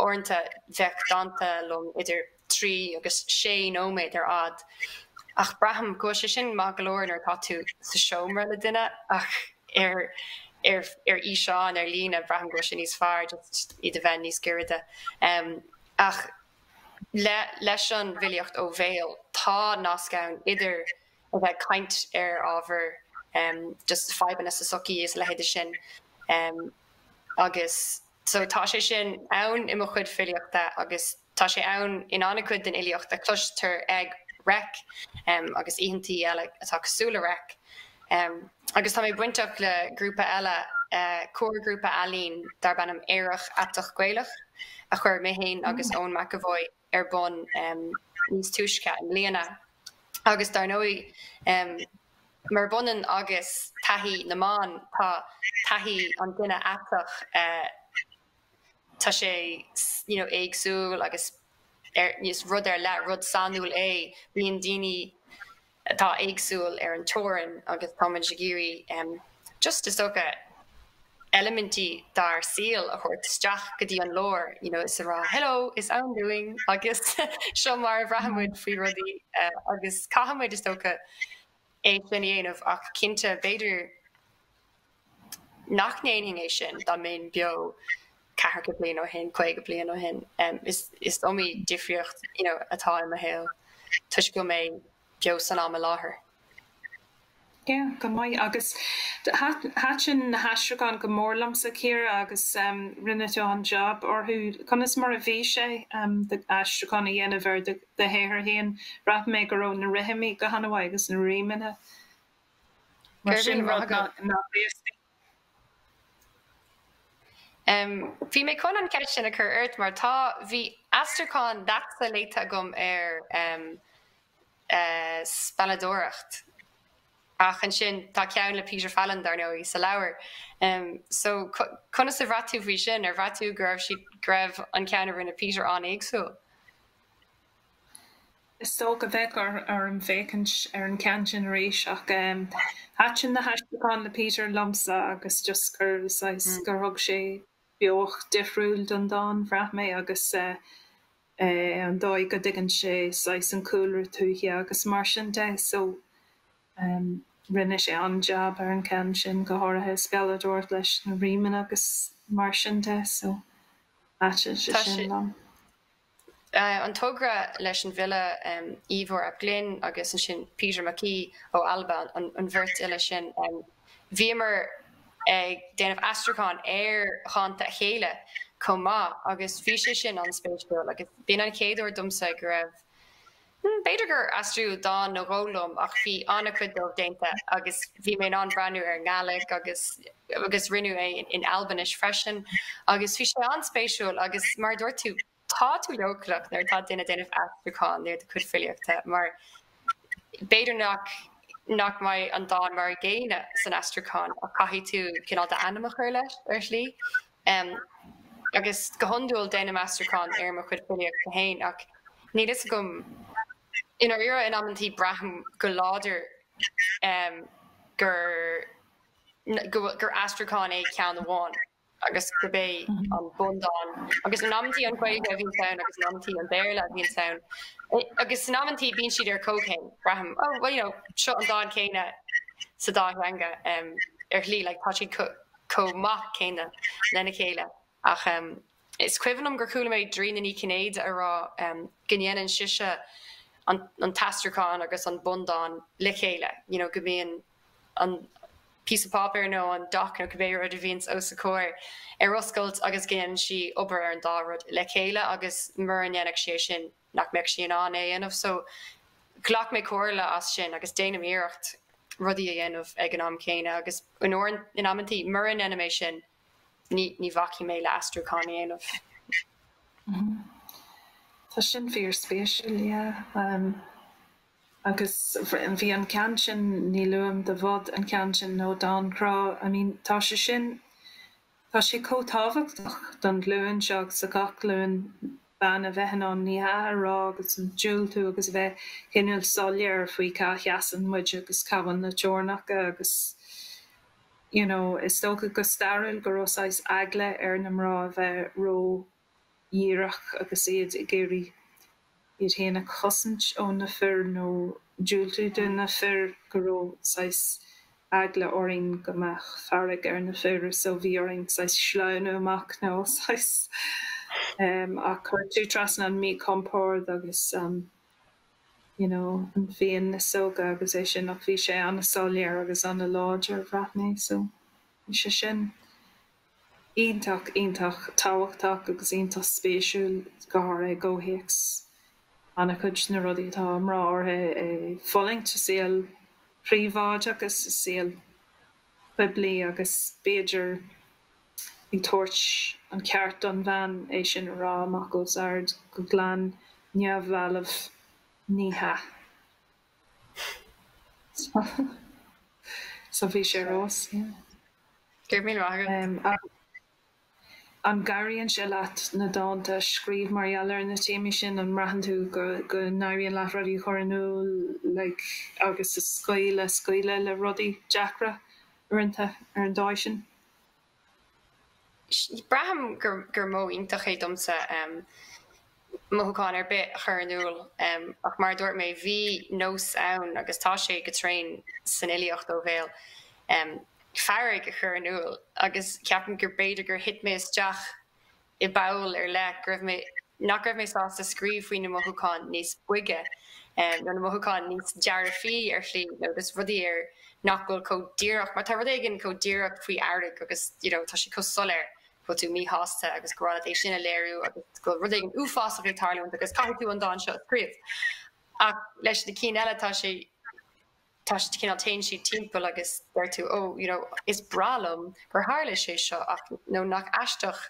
Uaireanta bheadh dánta liom idir 3 agus 6 nóiméad ar fhad ach braithim go bhfuil sé sin maith go leor nuair atá tú sa seomra le duine ach ar ar fhíseán ar líne braithim go bhfuil sé níos fearr just iad a bheith níos gairide ach leis an bhfilíocht ó bhéal tá nasc ann idir a bheith ag caint ar ábhar just fadhbanna sa sochaí is a leithéid de sin agus so tá sé sin ann i mo chuid filíochta agus Tá sé ann in an-chuid den fhilíocht a chloistear ag Reic agus oícheantaí eile atá cosúil le Reic. Agus tá mé bainteach le grúpa eile, comharghrúpa ealaíon darb ainm Aerach Aiteach Gaelach, a chuir mé féin agus Eoin McEvoy ar bun níos túisce i mbliana. Agus dar ndóigh, murab ionann agus taithí na mban, tá taithí an duine aiteach, Tá sé you know éagsúil agus rud ar leith, rud sainiúil é. Bíonn daoine atá éagsúil ar an teorainn agus tá muid ag iarraidh em just is dócha eilimintí dár saol a thabhairt isteach go dtí an lár you know is a rá hello is ann dúinn agus seo mar a bhraitheann muid faoi rudaí agus caithfimid is dócha é sin a dhéanamh ach cinnte b'fhéidir nach ndéanfainn é sin dá mbeinn beo ceathracha bliain ó shin, caoga bliain ó shin. Is iomaí difríocht atá i mo shaol toisc go bhfuil mé beo san am i láthair. Yeah, go maith. Agus thaitin na haistriúcháin go mór liomsa, Ciara, agus rinne tú an-jab orthu. Conas mar a bhí sé duit aistriúchán a dhéanamh ar do shaothar féin? Bhraith mé go raibh na rithimí go han-mhaith agus na rímeanna. em bhí mé chun an cheist sin a chur ort mar tá bhí aistriúchán leatsa léite agam ar em eh spealadóireacht ach ansin tá ceann le Peter Fallon dar ndóigh sa leabhar em so conas a bhraith tú faoi sin ar bhraith tú go raibh go raibh an ceann a rinne Peter an-éagsúil? Is dócha go mbeadh orm féachaint ar an gceann sin arís ach thaitin na haistriúcháin le Peter liomsa agus just gur saghas, gur thug sé beocht difriúil don dán, bhraith mé, agus an dóigh go dtuigeann sé saghas an cúlra tuaithe agus mar sin de so rinne sé an-jab ar an gceann sin, go háirithe a spealadóireacht leis na rímeanna agus mar sin de so thaitin sé sin liom. an togra leis an bhfile Ifor ap Glyn agus ansin Peter Mackay ó Alba, an bheirt fhile sin. Bhíomar ag déanamh aistriúcháin ar dhánta a chéile chomh maith agus bhí sé sin an-spéisiúil agus b'in an chéad uair domsa go raibh B'fhéidir gur aistríodh dán nó dhó liom ach bhí an-chuid díobh déanta agus bhí mé in ann breathnú ar an nGàidhlig agus agus rinneadh é in Albainis freisin agus bhí sé an-spéisiúil agus mar a dúirt tú, tá tú leochaileach nuair atá duine ag déanamh aistriúcháin ar do chuid filíochta mar b'fhéidir nach nach mbeidh an dán mar a gcéanna san aistriúchán ach caithfidh tú cineál d'ainm a chur leis ar shlí. Em. Agus go hiondúil déanaim aistriúchán ar mo chuid filíochta féin, ach níl fhios agam, i ndáiríre, in amanntaí braithim go láidir, em, gur, go bhfuil, gur aistriúchán é ceann amháin agus gurb é an bundán, agus in amanntaí an Ghaeilge a bhíonns ann agus in amanntaí an Béarla a bhíonns ann, agus in amanntaí bíonn siad ar comhchéim, braithim, oh, well, you know, seo an dán céanna sa dá theanga, em, ar shlí, like, tá siad co. chomh maith céanna lena chéile ach is cuimhin liom gur chuala mé Dairena Ní Chinnéide a rá go ndéanann sise an t-aistriúchán agus an bundán le chéile you know go mbíonn an píosa páipéir nó an doc nó cibé rud a bhíonns os a comhair ar oscailt agus go ndéanann sí obair ar an dá rud le chéile agus mura ndéanfadh sí é sin nach mbeadh sí in ann é a dhéanamh so ghlac mé comhairle as sin agus déanaim iarracht rudaí a dhéanamh ag an am céanna agus in amanntaí mura ndeinim é sin ní bhacfaidh mé le aistriúchán a dhéanamh. Tá sin fíor spéisiúil yeah agus bhí an ceann sin níl uaim do bhod an ceann sin nó Dán Grá I mean tá sé sin Tá sé chomh tábhachtach don ghlúin seo agus do gach glúin ban a bheith in ann 'ní hea' a rá agus an diúltú agus a bheith cineál soiléir faoi cá sheasann muid agus cá bhfuil na teorainneacha agus you know is dócha go stairiúil go raibh saghas eagla ar na mná a bheith ró díreach agus iad ag iarraidh iad féin a chosaint ó na fir nó diúltú do na fir, go raibh saghas eagla orainn go mbeadh fearg ar na fir so bhí orainn saghas sleamhnú amach nó saghas em ach chuir tú trasna an míchompord agus an you know an phian na síóige agus é sin ach bhí sé an-soiléir agus an-láidir bhraith mé so bhí sé sin Iontach, iontach tábhachtach agus iontach spéisiúil, go háirithe i gcomhthéacs an-chuid de na rudaí atá mná óga ag fulaingt sa saol príobháideach is sa saol poiblí agus b'fhéidir ag tabhairt an ceart don bhean é sin a rá amach os ard go glan neamhbhalbh. Ní hea. So bhí sé rós, yeah. An gcabhraíonn sé leat na dánta a scríobh mar gheall ar na téamaí sin? An mbraitheann tú go n-éiríonn leat rudaí a chur in iúl like agus a scaoileadh, scaoileadh le rudaí deacra uaireanta ar an dóigh sin? Braithim gur modh iontach é domsa mothúchán ar bith a chur in iúl, ach mar a dúirt mé, bhí nós ann, agus tá sé go tréan san fhilíocht ó bhéal, fearg a chur in iúl, agus ceapaim gur b'fhéidir gur thit mé isteach i bpoll ar leith, go raibh mé, nach raibh mé sásta scríobh faoi na mothúcháin níos boige, nó na mothúcháin níos dearfaí ar shlí, nó just rudaí ar nach bhfuil chomh díreach, mar tá rud éigin chomh díreach faoi fhearg agus you know tá sé chomh soiléir go bhfuil tú míshásta agus gur mhaith leat é sin a léiriú agus go bhfuil rud éigin uafásach ag tarlúint agus caithfidh tú an dán seo a scríobh. Ach leis na cinn eile tá sé. Tá siad cineál, téann siad timpeall agus deir tú oh you know is breá liom gur tharla sé seo ach no nach aisteach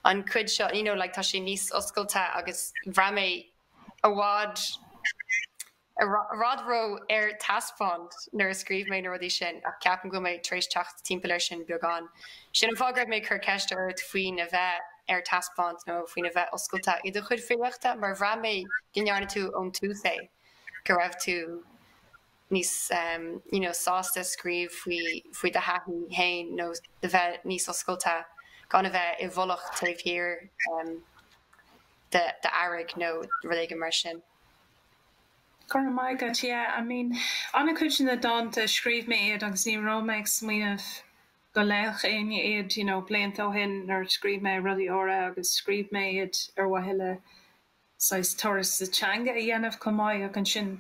an cuid seo you know like tá sé níos oscailte agus bhraith mé go raibh mé ró ar taispeáint nuair a scríobh mé na rudaí sin ach ceapaim go bhfuil mé tar éis teacht timpeall air sin beagán. Sin an fáth go raibh mé ag cur ceiste ort faoin a bheith ar taispeáint nó faoin a bheith oscailte i do chuid filíochta mar bhraith mé go ndearna tú ón tús é. go raibh tú níos you know sásta scríobh faoi do thaithí féin nó a bheith níos oscailte gan a bheith i bhfolach taobh thiar d'fhearg nó rud éigin mar sin. Go raibh maith agat, yeah, I mean an-chuid de na dánta scríobh mé iad agus ní raibh mé ag smaoineamh go léadh éinne iad you know blianta ó shin nuair scríobh mé rudaí úra agus scríobh mé iad ar mhaithe le saghas turas sa teanga a dhéanamh chomh maith ach ansin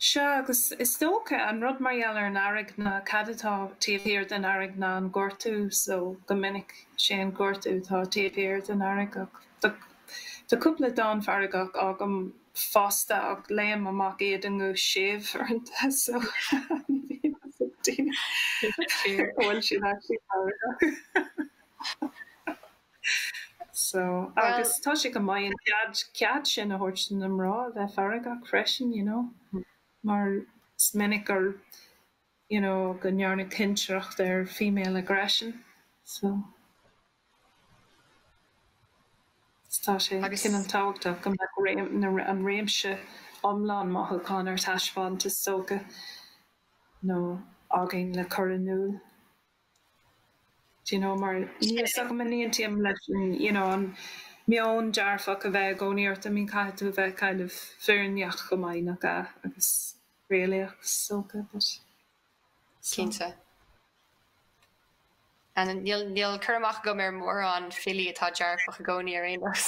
sea agus is dócha an rud mar gheall ar an fhearg ná cad atá taobh thiar den fhearg ná an gortú so go minic sé an gortú atá taobh thiar den fhearg ach tá tá cúpla dán feargach agam fosta ach léim amach iad i nguth séimh uaireanta so ní bhíonn fhios ag daoine an bhfuil siad actually feargach. So, agus tá sé go maith an cead, cead sin a thabhairt do na mná a bheith feargach freisin, you know, mar is minic gur, you know, go ndearnadh cinsireacht ar female aggression. So, tá sé Agus- cineál tábhachtach go mbeadh réim, na, ra- an réimse iomlán mothúchán ar taispeáint, is dócha, nó againn le cur in iúl. Do you know mar níl fhios agam an n-aontaím leis an you know an meon dearfach a bheith i gcónaí ort I mean caithfidh tú a bheith kind of fírinneach go maith nach ea agus réalaíoch is dócha but so. Cinnte. An níl níl cur amach agam ar mórán filí atá dearfach i gcónaí ar aon nós.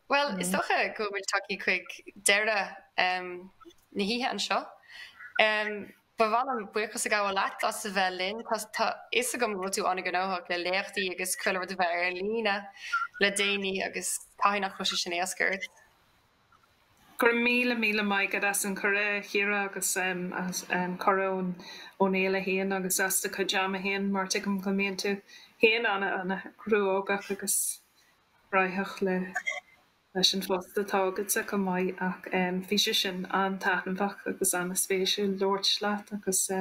Bhuel is dócha go bhfuil tagtha chuig deireadh. na hoíche anseo. Ba mhaith liom buíochas a ghabháil leat as a bheith linn. Tá fhios agam go bhfuil tú an-ghnóthach le léachtaí agus chuile rud a bheith ar líne le déanaí agus caithfidh nach bhfuil sé sin éasca ort. Go raibh míle míle maith agat as an chuireadh, a Chiara, agus as cuireadh ón fhéile féin agus as do chuid ama féin, mar tuigim go mbíonn tú féin ana chruógach agus cruthaitheach le. leis an phost atá agatsa chomh maith ach bhí sé sin an-taitneamhach agus an-spéisiúil labhairt leat agus i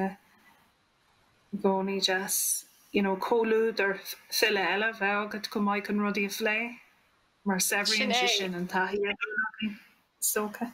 gcónaí deas you know comhluadar file eile a bheith agat chomh maith chun rudaí a phlé mar Sin saibhríonn é. sé sin an taithí a bhíonn againn is dócha.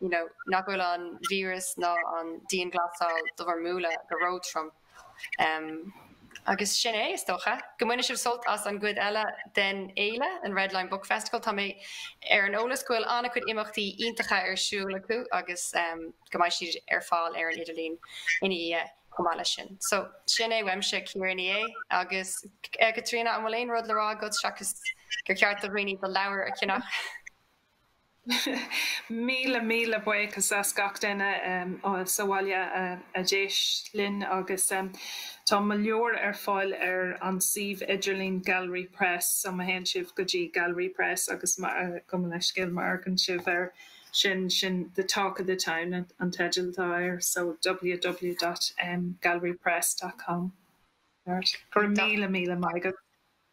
you know nach bhfuil an víreas ná an dianghlasáil do bhur mbualadh go ró-trom. em. agus sin é, is dócha. go mbaine sibh sult as an gcuid eile den fhéile, an Red Line Book Festival. tá mé ar an eolas go bhfuil an-chuid imeachtaí iontacha ar siúl acu agus em. go mbeidh siad ar fáil ar an idirlíon ina dhiaidh chomh maith leis sin. so sin é uaimse, Ciara Ní É. agus eh. Caitríona an bhfuil aon rud le rá agat seachas gur cheart do dhaoine do leabhar a cheannach? Míle míle buíochas le gach duine sa bhaile a d'éist linn agus tá mo leabhar ar fáil ar an suíomh idirlín Gallery Press so má théann sibh go dtí Gallery Press agus gabh mo leithscéal má fhéachann sibh air sin sin The Talk of the Town an teideal atá air so www.gallerypress.com Go raibh míle míle maith agat.